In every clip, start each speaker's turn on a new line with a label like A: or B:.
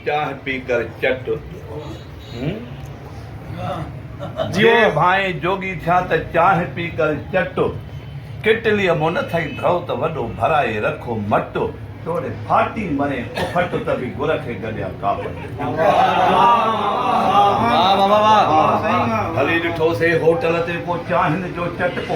A: چانهه پي ڪر چٽ هون جي ڀانء جوڳي ٿيا ته چانهه پي ڪر چٽ ڪيٽليء مون نه ٿئي ڍؤ ته وڏو ڀرائي رک مٽ. توڙي ڦاٽي مرين ڦٽ ته به گر کي گڏيان ڪاپٽ. هلي ڏٺو سي هوٽل تي ڪو چانهن جو چٽڪو.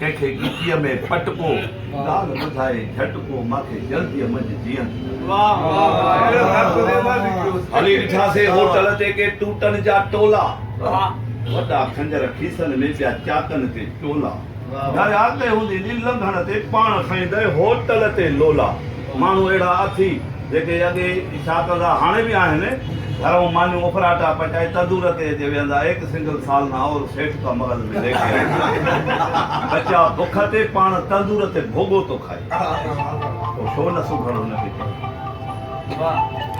A: ڪنهن کي ڳچيء ۾ پٽ ڪو، ڳالهه ٻڌائي جهٽ ڪو، مان کي جلديء منجهه جيئن ٿي لڳو. هلي ڏٺاسين هوٽل تي ڪي ٽوٽن جا ٽولا، وڏا خنجر کيسن ۾ پيا چاڪن تي ٽولا، ڍريا ڪئي هوندي نيل لنگهڻ تي پاڻ کائيندئي هوٽل تي لولا. ماڻهو اهڙا اٿي جيڪي اڳي ئي شاٽر ٿا هاڻي به آهن گهرئون مانيون اڦراٽا پچائي تندور تي اچي ويهندا ايڪ سنگل سالنا اور سيٺ ڪا مرض ۾ ليڪي آئي ٿا ٻچا بک تي پاڻ تندور تي ڀوڳو ٿو کائي پوء ڇو نه سگهڙ هن کي چئي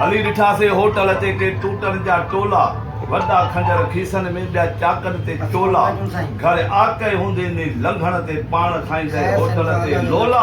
A: هلي ڏٺاسين هوٽل تي ڪي ٽوٽن جا ٽولا وڏا کنجر کيسن ۾ ٻيا چاڪن تي چولا گهر آڪهي هوندي ني لنگهڻ تي پاڻ کائيندي هوٽل تي لولا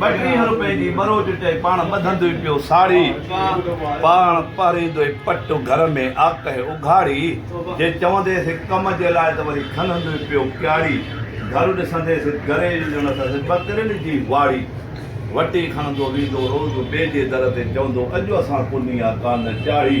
A: ٻه ٽيهه روپين جي ٻروچ چئي پاڻ ٻڌندو ئي پيو ساڙي. پاڻ پهريندو ئي پٽ گهر ۾ آڪهي اگهاڙي. جي چونديس هڪ ڪم جي لاء ته وري کنندو ئي پيو ڪياڙي. گهر ڏسنديس هڪ گري جي ڄڻ اٿس ٻڪرين جي واڙي. وٽي کڻندو ويندو روز ٻئي جي در تي چوندو اڄ اسان ڪني آ ڪانه چاڙهي.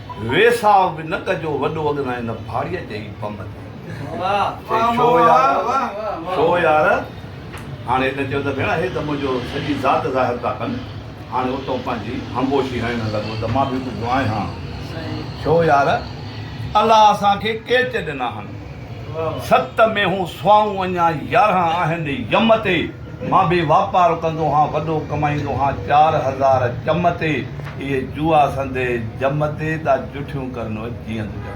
A: ويساهه به نه ڪجو وڏو اڳنا ان ڀاڙيء جي بم تي. چئي ڇو يار ڇو يار؟ هاڻي هن چيو ته ڀيڻ اهي ته منهنجو سڄي ذات ظاهر ٿا ڪن. هاڻي اتون پنهنجي همبوشي هڻڻ لڳو ته مان به ٻڌو آهي هان. ڇو يار؟ الله اسان کي ڪيچ ڏنا هن. ست مينهون سوائون اڃا يارهن آهن ين تي. مان به واپار ڪندو هان وڏو ڪمائيندو هان چار هزار چم تي اهي جوئا سندي جم تي دا جٺيون ڪرنو جيئند ڪري.